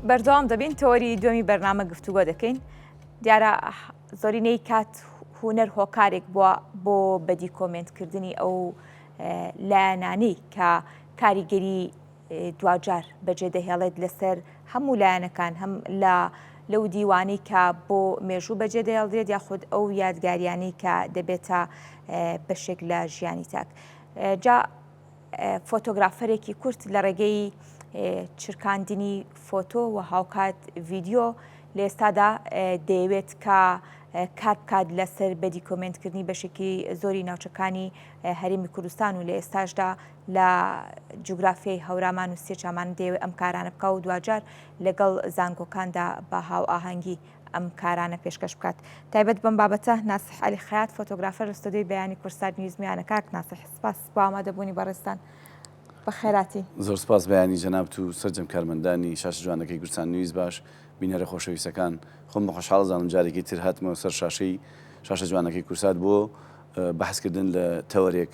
بەردەوام دەبین تۆری دومی بەرنامە گفتوگۆ دەکەین دیارە زۆرینەی کات هوەر هۆکارێک بووە بۆ بەدی کۆمنتکردنی ئەو لایەنانی کە کاریگەری دواجار بەجێ دەهێڵێت لەسەر هەموو لایەنەکان هەم لە لەو دیوانەی کە بۆ مێژوو بەجێ دەهێڵدرێت یاخود ئەو یادگاریانەی کە دەبێتە بەشێک لە ژیانی تاک جا فۆتۆگرافەرێکی کورت لە ڕێگەی چرکاندنی فۆتۆ و هاوکات ڤیددیو لە ئێستادا دەیەوێت کە کار بکات لەسەر بەدی کۆمنتکردنی بەشێکی زۆری ناوچەکانی هەرێمی کوردستان و لە ئێستاشدا لە جوگرافیای هەورامان و سێ چامانە دەیەوێت ئەم کارانە بکا و دواجار لەگەڵ زانکۆکاندا بە هاوئاهەنگی ئەم کارانە پێشکەش بکات. تایبەت بەم بابەتە ناسح عەلی خەیات فۆتۆگرافەر لە ستۆدیۆی بەیانی کورسات نیوز میانە کاک ناسح سپاس بۆ ئامادەبوونی بەڕێزتان بە خێراتی. زۆر سپاس بەیانی جەنابت و سەرجەم کارمەندانی شاشە جوانەکەی کورسان نیوز باش بینەرە خۆشەویستەکان خۆم بە خۆشحاڵ ئەزانم جارێکی تر هاتمەوە سەر شاشەی شاشە جوانەکەی کورسات بۆ بەحس کردن لە تەوەرێک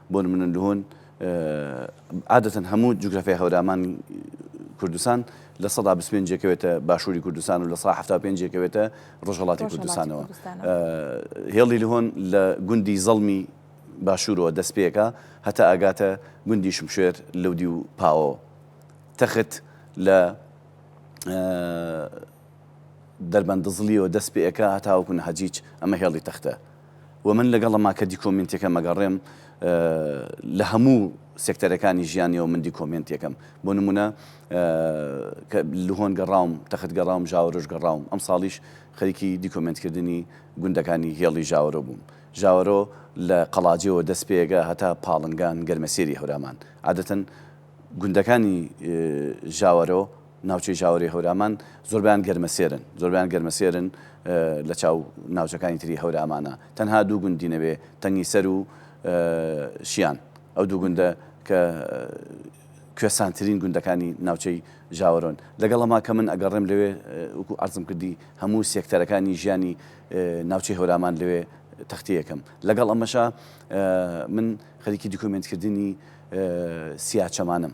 بۆ نمونە لهون عادەتەن هەموو جوگرافیای هەورامان کوردستان لە سەدا بیست و پێنج یەکەوێتە باشووری کوردستان و لە سەدا حەفتا و پێنج یەکەوێتە ڕۆژهەڵاتی کوردستانەوە. هێڵی لهۆن لە گوندی زەڵمی باشوورەوە دەست پێکا هەتا ئەگاتە گوندی شمشێر لەودیو پاوەوە. تەخت لە. دەربەن دزڵیەوە دەست پئ ئەکا هەتاوەکو نهجیچ ئەمە هێڵی تەختە وە من لەگەڵ ئەما کەدی کۆمینتیەکەم ئەگەڕێم لە هەموو سێکتەرەکانی ژیانیەوە من دی کۆمێنتیەکەم بۆ نمونە کە لهۆن گەڕاوم تەخت گەڕاوم ژاوەرۆش گەڕاوم ئەم ساڵیش خەریکی دی کۆمێنت کردنی گوندەکانی هێڵی ژاوەرۆ بووم ژاوەرۆ لە قەڵاجێەوە دەست پئ ئەگا هەتا پاڵنگان گەرمەسێری هەورامان عادەتەن گوندەکانی ژاوەرۆ ناوچەی ژاوەرێی هەورامان زۆربەیان گەرمەسێرن زۆربەیان گەرمەسێرن لە چاو ناوچەکانی تری هەورامانە تەنها دوو گوندی نەبێ تەنگی سەر و شیان ئەو دوو گوندە کە کوێسانترین گوندەکانی ناوچەی ژاوەرۆن لەگەڵ ئەما کە من ئەگەڕێم لەوێ وکو ئەرزم کردی هەموو سێکتەرەکانی ژیانی ناوچەی هەورامان لەوێ تەختەیەکەم لەگەڵ ئەمەشا من خەریکی دیکۆمنتکردنی سیاچەمانم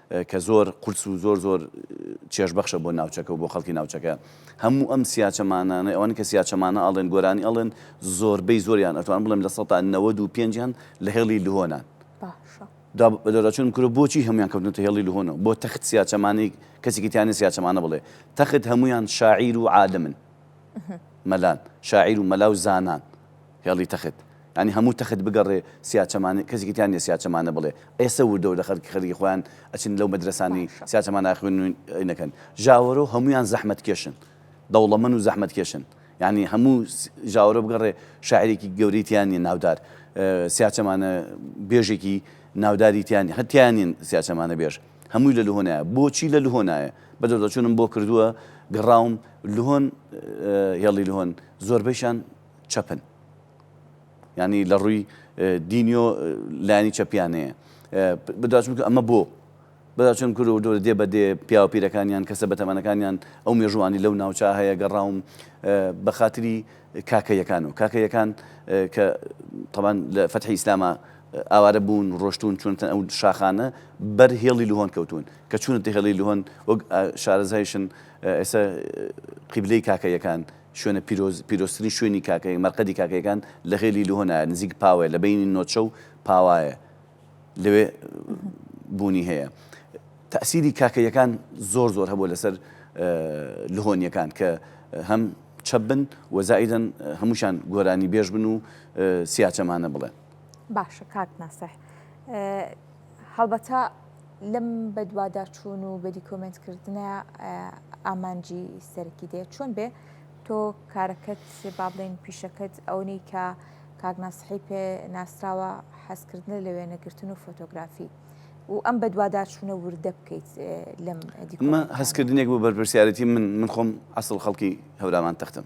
کە زۆر قورس و زۆر زۆر چێژ بەخشە بۆ ناوچەکە و بۆ خەڵکی ناوچەکە هەموو ئەم سیاچەمانانەی ئەوان کە سیاچەمانە ئەڵێن گۆرانی ئەڵێن زۆربەی زۆریان ئەتوان بڵێم لە سەدا نەوەد و پێنجیان لە هێڵی لهۆنان دەرچون کرد بۆچی هەموان کەوتنتە هێڵی لهۆنەوە بۆ تەخت سیاچەمانی کەسێکی تیانە سیاچەمانە بڵێ تەخت هەمویان شاعیر و عالمن مەلان شاعیر و مەلا و زانان هێڵی تەخت یانی هەموو تەخت بگەڕێ سیاچەمانە کەسێکی تیا نیە سیاچەمانە بڵێ ئێسە وردە وردە خەرکی خەرکی خۆیان ئەچن لەو مەدرەسانی سیاچەمانە ئەخوێنن نەکەن ژاوەرۆ هەموویان زەحمەت کێشن دەوڵەمەن و زەحمەت کێشن یانی هەموو ژاوەرۆ بگەڕێ شاعیرێکی گەورەی تیا نیە ناودار سیاچەمانە بێژێکی ناوداری تیا نیە هەر تیا نین سیاچەمانە بێژ هەمووی لە لهۆ نایە بۆچی لە لهۆ نایە بە دەردەچوونم بۆ کردووە گەڕاوم لهۆن هێڵی لهۆن زۆربەیشان چەپن ینی لە ڕووی دینیۆ لانی چەپیانەیە بداچم کە ئەمە بۆ بەداچم کور و دۆر دێ بە دێ پیاوپیرەکانیان کەسە بەتەمانەکانیان ئەو مێژوانی لەو ناوچە هەیە گەڕاوم بە خااتری کاکەیەکان و کاکەیەکان کە تەمان لە فەتحی ئیسلامە ئاوارە بوون ڕۆشتون چونتە ئەو شاخانە بەر هێڵی لهۆن کەوتون کە چونتە هێڵی لهۆن وەک شارەزایشن ئێستا قیبلەی کاکەیەکان شوێنە پیرۆز، پیرۆزترین شوێنی کاکەیەک، مەرقەدی کاکەیەکان لە غێلی لهۆنایە، نزیک پاوەیە، لە بەینی نۆچە و پاوایە، لەوێ بوونی هەیە. تەئسیری کاکەیەکان زۆر زۆر هەبووە لەسەر لهۆنییەکان کە هەم چەپ بن و زائیدەن هەمووشیان گۆرانیبێژ بن و سیاچەمانە بڵێن. باشە کاک ناسح، هەڵبەتە لەم بەدواداچوون و بەدی کۆمنت کردنە ئامانجی سەرکی دێت چۆن بێ تۆ کارەکەت با بڵێن پیشەکەت ئەونەی کە کاگناسحی پێ ناسراوە حەزکردنە لە وێنەگرتن و فۆتۆگرافی و ئەم بەدواداچوونە وردە بکەیت لەم هەستکردنێک بۆ بەرپرسیارەتی من من خۆم ئەسڵ خەڵکی هەورامان تەختم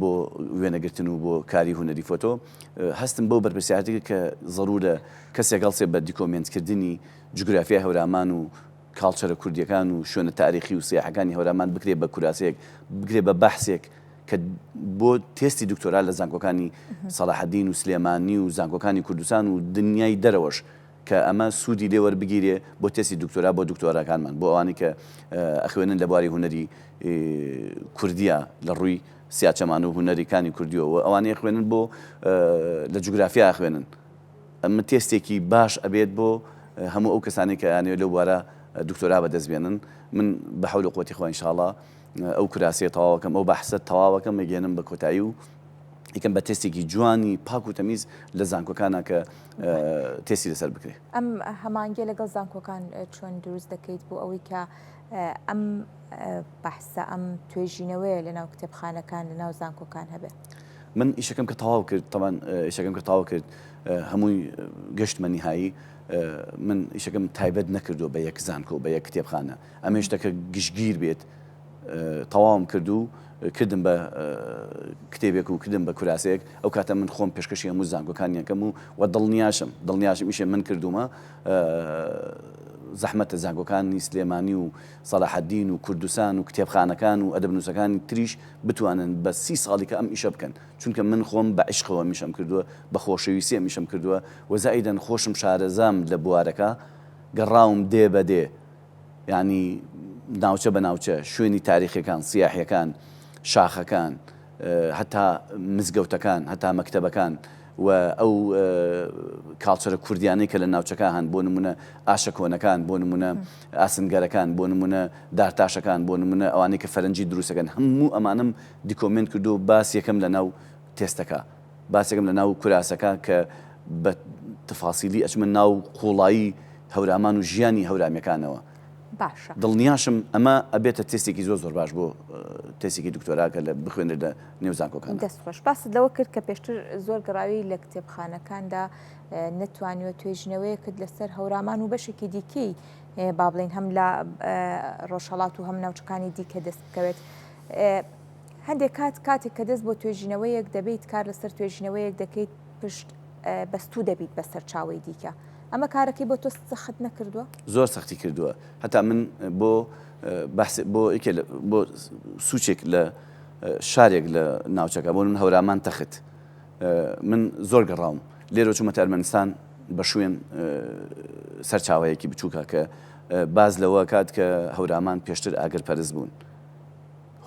بۆ وێنەگرتن و بۆ کاری هونەری فۆتۆ هەستم بەو بەرپرسیارەتە کرد کە زەروورە کەسێک هەڵسێ بە دیکۆمێنتکردنی جوگرافیای هەورامان و کاڵچەرە کوردییەکان و شوێنە تاریخی و سیاحەکانی هەورامان بکرێ بە کوراسەیەک، بکرێ بە بەحسێک کە بۆ تێستی دکتۆرا لە زانکۆکانی سەڵاحەدین و سلێمانی و زانکۆکانی کوردستان و دنیای دەرەوەش. کە ئەمە سوودی لێ وەربگیرێ بۆ تێستی دکتۆرا بۆ دکتۆراکانمان بۆ ئەوانەی کە ئەخوێنن لە بواری هونەری کوردیا لە ڕووی سیاچەمانە و هونەری کانی کوردیەوە و ئەوانەی ئەخوێنن بۆ لە جوگرافیا ئەخوێنن ئەمە تێستێکی باش ئەبێت بۆ هەموو ئەو کەسانی کە یانەوێت لەو بوارە دکتۆرا بەدەست بێنن من بە حەول و قوەتی خوا ان شاء اللە ئەو کراسیە تەواوەکەم ئەو بەحسە تەواوەکەم ئەگەێنم بە کۆتایی و یکەم بە تێستێکی جوانی پاک و تەمیز لە زانکۆکانە کە تێسی لەسەر بکرێ ئەم هەمانگێ لەگەڵ زانکۆکان چۆن دروست دەکەیت بۆ ئەوەی کە ئەم بەحسە ئەم توێژینەوەیە لە ناو کتێبخانەکان لە ناو زانکۆکان هەبێت من ئیشەکەم کە تەواو کرد تەمان ئیشەکەم کە تاوا کرد هەمووی گەشتمە نیهایی من ئیشەکەم تایبەت نەکردو بە یەک زانکۆ بە یەک کتێبخانە ئەمن شتەکە گشتگیر بێت تەواوم کرد و کردم بە کتێبێک و کردم بە کوراسەیەک ئەو کاتە من خۆم پێشکەشی هەموو زانگۆکانیەکەم و و دڵنیاشم دڵنیاشم میشێ من کردومە زەحمەتە زانگۆکانی سلێمانی و سەلاحەدین و کوردستان و کتێبخانەکان و ئەدەبنووسەکانی تریش بتوانن بە سی ساڵیکە ئەم ئیشە بکەن چونکە من خۆم بە عشقەوە میشم کردووە بە خۆشەویستە میشم کردووە وەزائیدەن خۆشم شارەزام لە بوارەکە گەڕاوم دێ بە دێ یانی ناوچە بە ناوچە، شوێنی تاریخیەکان، سیاحیەکان، شاخەکان، هەتا مزگەوتەکان، هەتا مەکتەبەکان و ئەو کاڵچەرە کوردیانەی کە لە ناوچەکە هەن، بۆ نمونە ئاشە کۆنەکان، بۆ نمونە ئاسنگەرەکان، بۆ نمونە دارتاشەکان، بۆ نمونە ئەوانەی کە فەرەنجی دروستەکەن، هەموو ئەمانەم دیکۆمێنت کردووە، باس یەکەم لەناو تێستەکە. باسێکم لە ناو کوراسەکە کە بە تفاصیلی ئەچمە ناو قوڵایی هەورامان و ژیانی هەورامیەکانەوە باشە. دڵنیاشم ئەمە ئەبێتە تێستێکی زۆر زۆر باش بۆ تێسێکی دکتۆرا کە لە بخوێنێت لە نێو زانکۆکان. دەست خۆش. باست لەوە کرد کە پێشتر زۆر گەڕاوی لە کتێبخانەکاندا نەتوانیوە توێژینەوەیەکت لەسەر هەورامان و بەشێکی دیکەی با بڵێن هەم لە ڕۆژهەڵات و هەم ناوچەکانی دیکە دەست بکەوێت. هەندێک کات کاتێک کە دەست بۆ توێژینەوەیەک دەبەیت کار لەسەر توێژینەوەیەک دەکەیت پشت بەستوو دەبیت بە سەرچاوەی دیکە ئەمە کارەکەی بۆ تۆ سەخت نەکردووە؟ زۆر سەختی کردووە هەتا من بۆ بەحس بۆ یەکێ لە بۆ سوچێک لە شارێک لە ناوچەکە بۆ من هەورامان تەخت من زۆر گەڕاوم لێرۆ چوومەتە ئەرمەنستان بە شوێن سەرچاوەیەکی بچووکە کە باز لەوە کات کە هەورامان پێشتر ئاگر پەرست بوون.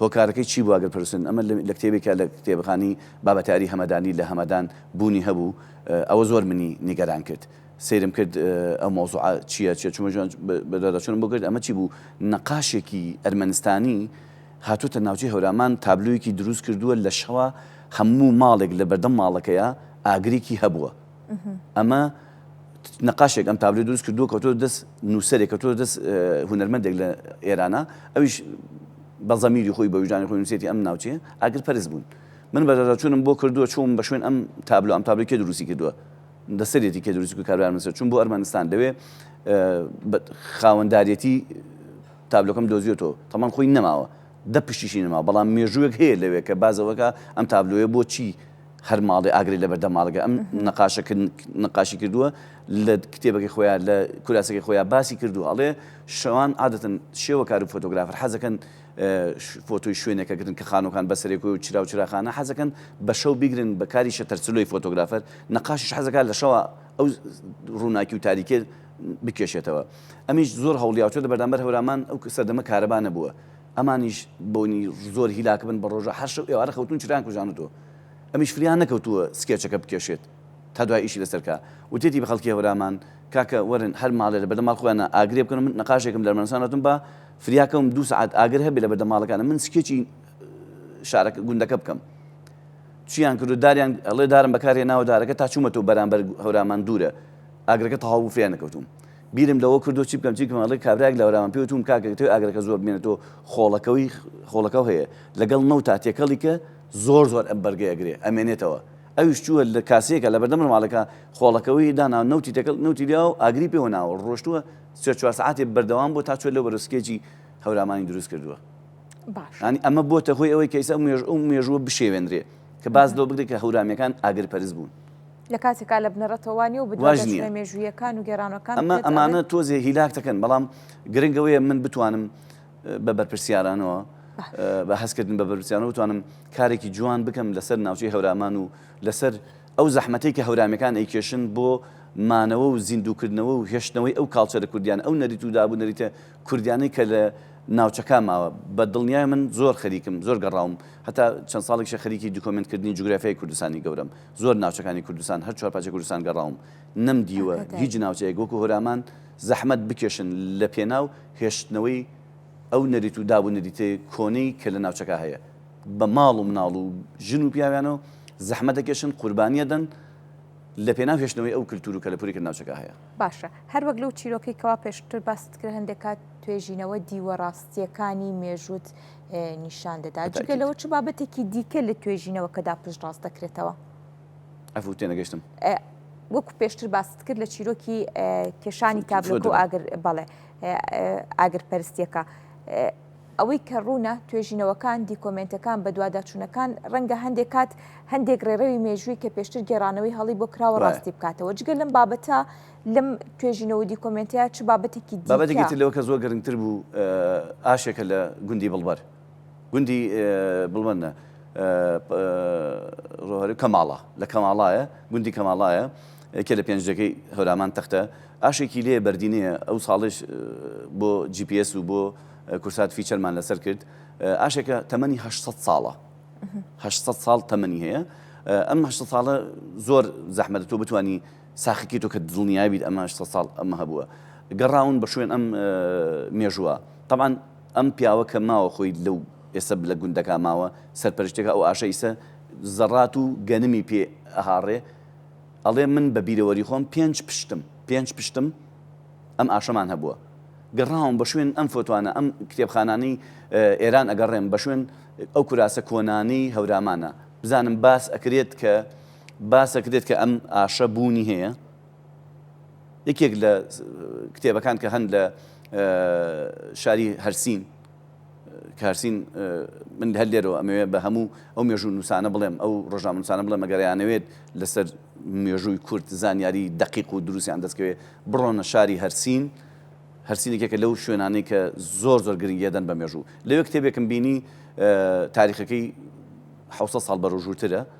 هۆکارەکەی چی بووە گەر پرسن؟ ئەمە لە کتێبێکە لە کتێبخانی بابەتاری هەمەدانی لە هەمەدان بوونی هەبوو ئەوە زۆر منی نیگەران کرد سەیرم کرد ئەو مەوزوعە چییە چیە چوومە ژوان بە دواداچوونم بۆ کرد ئەمە چی بوو نەقاشێکی ئەرمەنستانی هاتووتە ناوچەی هەورامان تابلۆیەکی دروست کردووە لە شەوا هەموو ماڵێک لە بەردەم ماڵەکەیە ئاگرێکی هەبووە ئەمە نەقاشێک ئەم تابلۆی دروست کردووە کەوتۆ دەست نووسەرێک کەوتۆ دەست هونەرمەندێک لە ئێرانە ئەویش بە زەمیری خۆی بە وژدانی خۆی نووسێتی ئەم ناوچێ ئاگر پەرز بوون من بەدەچوونم بۆ کردووە چوم بە شوێن ئەم تابلو ئەم تابلوکێ دروستی کردووە دەسەرێتی کە دروست و کاربار مسە چون بۆ ئەرمەنستان لەوێ خاوەنددارەتی تابلۆکەم دۆزیێتەوە تەمان خۆی نەماوە دە پشتیشی نەما بەڵام مێژووێک هەیە لەوێ کە بازەوەکە ئەم تابلوێ بۆ چی هەر ماڵێ ئاگرێ لە بەردەم ماڵەکە ئەم نەقاشە نەقاشی کردووە لە کتێبەکەی خۆیان لە کوراسەکەی خۆیان باسی کردووە ئەڵێ شەوان عادەتن شێوە کار و فۆتۆگرافر حەزەکەن فۆتۆی شوێنێکە گرن کە خانوەکان بەسەرێک و چرا و چراخانە حەزەکەن بە شەو بیگرن بە کاری شەتەرسلۆی فۆتۆگرافەر نەقاشش حەزەکان لە شەوە ئەو ڕووناکی و تاریکێ بکێشێتەوە ئەمیش زۆر هەوڵیاوچێت لە بەردامبەر هەورامان ئەو سەردەمە کارەبانە بووە ئەمانیش بۆنی زۆر هیلاکبن بە ڕۆژا هەر شەو ئێوارە خەوتون چرایان کوژانوتوە ئەمیش فریان نەکەوتوە سکێچەکە بکێشێت تا دوای ئیشی لەسەر کا وتێتی بە خەڵکی هەورامان کاکە وەرن هەر ماڵێ لەبەردەم ماڵ خۆیانا ئاگرێ بکەن و من نەقاشێکم لە ئەرمەنستان هاتوم با فریا کەوم دوو سەعات ئاگر هەبێ لە بەردەم ماڵەکانم من سکێچی شارەکە گوندەکە بکەم چیان کردو داریان ئەڵێ دارم بەکار هێناوە دارەکە تا چومەتەوە بەرامبەر هەورامان دورە ئاگرەکە تەواو بوو فریان نەکەوتوم بیرم لەوە کردووە چی بکەم چی بکەم ئەڵێ کابرایەک لە ورامە پێوت وم کاکە تۆی ئاگرەکە زۆر بمێنێتەوە خۆڵەکەوی خۆڵەکەو هەیە لەگەڵ نەوتا تێکەڵی کە زۆر زۆر ئەم بەرگەی ئەگرێ ئەمێنێتەوە ئەویش چووە لە کاسەیەکە لە بەردەم ماڵەکە خۆڵەکەوی دانا نەوتی تێکەڵ نەوتی لیاو ئاگری پێوە ناوە ڕۆشتووە سێ چوار سەعاتێ بەردەوام بوو تا چووە لەو بەرەو سکێجی هەورامانی دروست کردووە باشە ئەنی ئەمە بۆتە هۆی ئەوەی کە ئیستا مێژ ئەو مێژووە بشێوێنرێ کە باس لەوە بگرێ کە هەورامیەکان ئاگرپەرست بوون لە کاتێکا لە بنەڕەتەوە وا نییە و بەدوا واش نییە. دەچنە مێژووییەکان و گێڕانەوەکان ئەمە پێت ئەڵێن ئەمانە تۆزێ هیلاک دەکەن بەڵام گرنگ ئەوەیە من بتوانم اه، بە بەرپرسیارانەوە اه، بە هەستکردن بە بەرپرسیارانەوە بتوانم کارێکی جوان بکەم لەسەر ناوچەی هەورامان و لەسەر ئەو زەحمەتەی کە هەورامیەکان ئەیکێشن بۆ مانەوە و زیندووکردنەوە و هێشتنەوەی ئەو کاڵچەرە کوردیانە ئەو نەریت و داب و نەریتە کوردیانەی کە لە ناوچەکان ماوە بە دڵنیایە من زۆر خەریکم زۆر گەڕاوم هەتا چەند ساڵێکیشە خەریکی دکۆمێنت کردنی جوگرافیای کوردستانی گەورەم زۆر ناوچەکانی کوردستان هەر چوار پارچەی کوردستان گەڕاوم نەم دیوە هیچ ناوچەیەک وەکو هۆرامان زەحمەت بکێشن لە پێناو هێشتنەوەی ئەو نەریت و داب و نریتە کۆنەی کە لە ناوچەکە هەیە بە ماڵ و مناڵ و ژن و پیاویانەوە زەحمەت دەکێشن قوربانی ئەدەن لە پێناو هێشتنەوەی ئەو کلتور و کەلەپوری کە لە ناوچەکە هەیە. باشە هەر وەک لەو چیرۆکەی کەوا پێشتر باست کرد هەندێک کات توێژینەوە دیوە ڕاستیەکانی مێژووت نیشان دەدات جگە لەوە چ بابەتێکی دیکە لە توێژینەوەکەدا پشتڕاست دەکرێتەوە؟ عەفو تێنەگەشتم. وەکو پێشتر باست کرد لە چیرۆکی کێشانی تابلۆکە و ئاگر بەڵێ ئاگر پەرستیەکە ئەوەی کە ڕوونە توێژینەوەکان دیکۆمنتەکان بەدواداچوونەکان ڕەنگە هەندێک کات هەندێک ڕێڕەوی مێژووی کە پێشتر گێرانەوەی هەڵی بۆ کراوە ڕاستی بکاتەوە جگە لەم بابەتە لەم توێژینەوە دیکۆمێنتەیا چ بابەتێکی دیکە؟ بابەتێکی تر لەوە کە زۆر گرنگتر بوو ئاشێکە لە گوندی بڵبەر گوندی بڵبەر نە ڕۆهەری کەماڵا لە کەماڵایە گوندی کەماڵایە یەکێ لە پێنجەکەی هەورامان تەختە ئاشێکی لێ بەردینەیە ئەو ساڵش بۆ GPS و بۆ کورسات فیچەرمان لەسەر کرد ئاشێکە تەمەنی 600 ساڵە 600 ساڵ تەمەنی هەیە ئەم 600 ساڵە زۆر زەحمەتە تۆ بتانی ساخەکەی تۆ کە دڵنیای بیت ئەمە هەشت سەد ساڵ ئەمە هەبووە گەڕاون بە شوێن ئەم مێژووە تەبعەن ئەم پیاوە کە ماوە خۆی لەو ئێستا لە گوندەکە ماوە سەرپەرشتێکە ئەو ئاشە ئیسە زەڕات و گەنمی پێ ئەهاڕێ ئەڵێ من بە بیرەوەری خۆم پێنج پشتم پێنج پشتم ئەم ئاشەمان هەبووە گەڕاوم بە شوێن ئەم فۆتوانە ئەم کتێبخانانەی ئێران ئەگەڕێم بە شوێن ئەو کوراسە کۆنانەی هەورامانە بزانم باس ئەکرێت کە باسەک دێت کە ئەم ئاشە بوونی هەیە یەکێک لە کتێبەکان کە هەن لە شاری هەرسین کارسین من هەر لێرەوە ئەمەوێ بە هەموو ئەو مێژوو نووسانە بڵێم ئەو ڕۆژامنووسانە بڵێ مەگەریانەوێت لەسەر مێژووی کورد زانیاری دقیق و دروستیان دەستکەوێت بڕۆنە شاری هەرسین هەرسینێکێکە لەو شوێنانەی کە زۆر زۆر گرنگیدەن بە مێژوو لەوێ کتێبێکم بینی تاریخەکەی حوسە ساڵ بەرەژووترە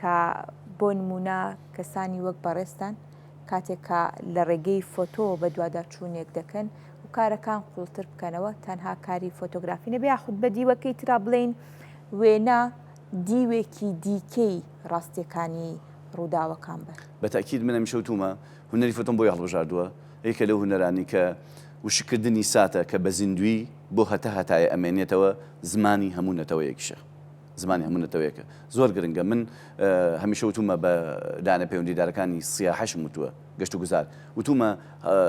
کە بۆ نموونە کەسانی وەک بەڕێزتان کاتێک کە لە ڕێگەی فۆتۆوە بەدواداچوونێک دەکەن و کارەکان قوڵتر بکەنەوە تەنها کاری فۆتۆگرافی نەبێ یاخود بە دیوەکەی ترا بڵێین وێنە دیوێکی دیکەی ڕاستیەکانی ڕووداوەکان بن. بە تەئکید من هەمیشە وتوومە هونەری فۆتۆم بۆی هەڵبژاردووە یەکێ لەو هونەرانی کە وشککردنی ساتە کە بە زیندوویی بۆ هەتا هەتایە ئەمێنێتەوە زمانی هەموو نەتەوەیەکیشە. زمانی هەموو نەتەوەیەکە زۆر گرنگە من هەمیشە وتومە بە لایەنە پەیوەندیدارەکانی سیاحەشم وتووە گەشت و گوزار وتومە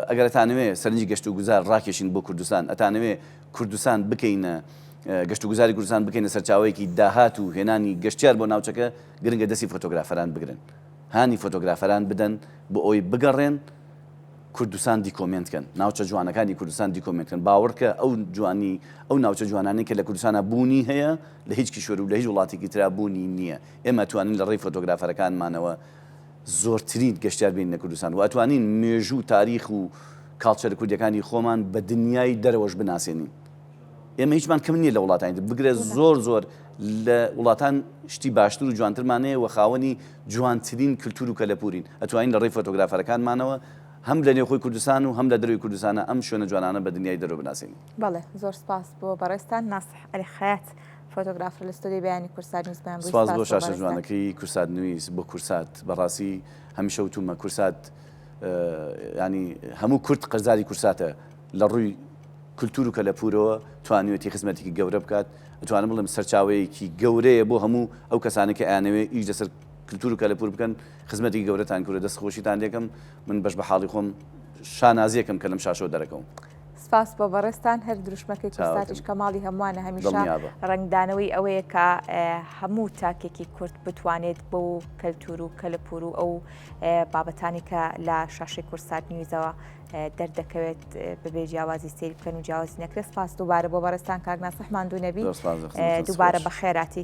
ئەگەر ئەتانەوێ سەرنجی گەشت و گوزار ڕاکێشین بۆ کوردستان ئەتانەوێ کوردستان بکەینە گەشت و گوزاری کوردستان بکەینە سەرچاوەیەکی داهات و هێنانی گەشتیار بۆ ناوچەکە گرنگە دەستی فۆتۆگرافەران بگرن هانی فۆتۆگرافەران بدەن بۆ ئەوەی بگەڕێن کوردستان دیکۆمێنت کەن ناوچە جوانەکانی کوردستان دیکۆمێنت کەن باوەڕکە ئەو جوانی ئەو ناوچە جوانانەی کە لە کوردستانە بوونی هەیە لە هیچ کیشوەر و لە هیچ وڵاتێکی ترا بوونی نییە ئێمە توانین لە ڕێی فۆتۆگرافەرەکانمانەوە زۆرترین گەشتیار بین لە کوردستان و ئەتوانین مێژوو تاریخ و کاڵچەرە کوردیەکانی خۆمان بە دنیای دەرەوەش بناسێنین. ئێمە هیچمان کەم نییە لە وڵاتانی تر بگرە زۆر زۆر لە وڵاتان شتی باشتر و جوانترمانەیە و خاوەنی جوانترین کللتور و کەلەپورین ئەتوانین لە ڕێی فۆتۆگرافەرەکانمانەوە هەم لە نێوخۆی کوردستان و هەم لە دەروی کوردستانە ئەم شوێنە جوانانە بە دنیای دەرو بناسین بەڵێ زۆر سپاس بۆ بەڕێستان ناسح ئەلی خەیات فۆتۆگرافر لە ستۆدیۆی بەیانی کورسات نیوزمان سپاس بۆ شاشە جوانەکەی کورسات نویس بۆ کورسات بەڕاستی هەمیشە وتومە کورسات ینی هەموو کورد قەرزاری کورساتە لە ڕووی کلتور و کەلەپوورەوە توانیوێتی خزمەتێکی گەورە بکات، ئەتوانم بڵێم سەرچاوەیەکی گەورەیە بۆ هەموو ئەو کەسانەی کە ئەیانەوێت ئیش لەسەر کلتور و کەلەپوور بکەن، خزمەتێکی گەورەتان کردووە، دەست خۆشیتان لێ ئەکەم، من بەش بە حاڵی خۆم شانازی ئەکەم کە لەم شاشەوە دەرەکەوم. سپاس بۆ بەڕێزتان، هەر دروشمەکەی کورساتیش کە ماڵی هەمووانە هەمیشە ڕەنگدانەوەی ئەوەیە کە هەموو تاکێکی کورد بتوانێت بۆ کەلتور و کەلەپوور و ئەو بابەتانی کە لە شاشەی کورسات نیوزەوە دەردەکەوێت بەبێ جیاوازی سەیر بکەن و جیاوازی نەکرێت سپاس دووبارە بۆ بەڕێزتان کاک ناسح ماندوو نەبی دووبارە بەخێراتی.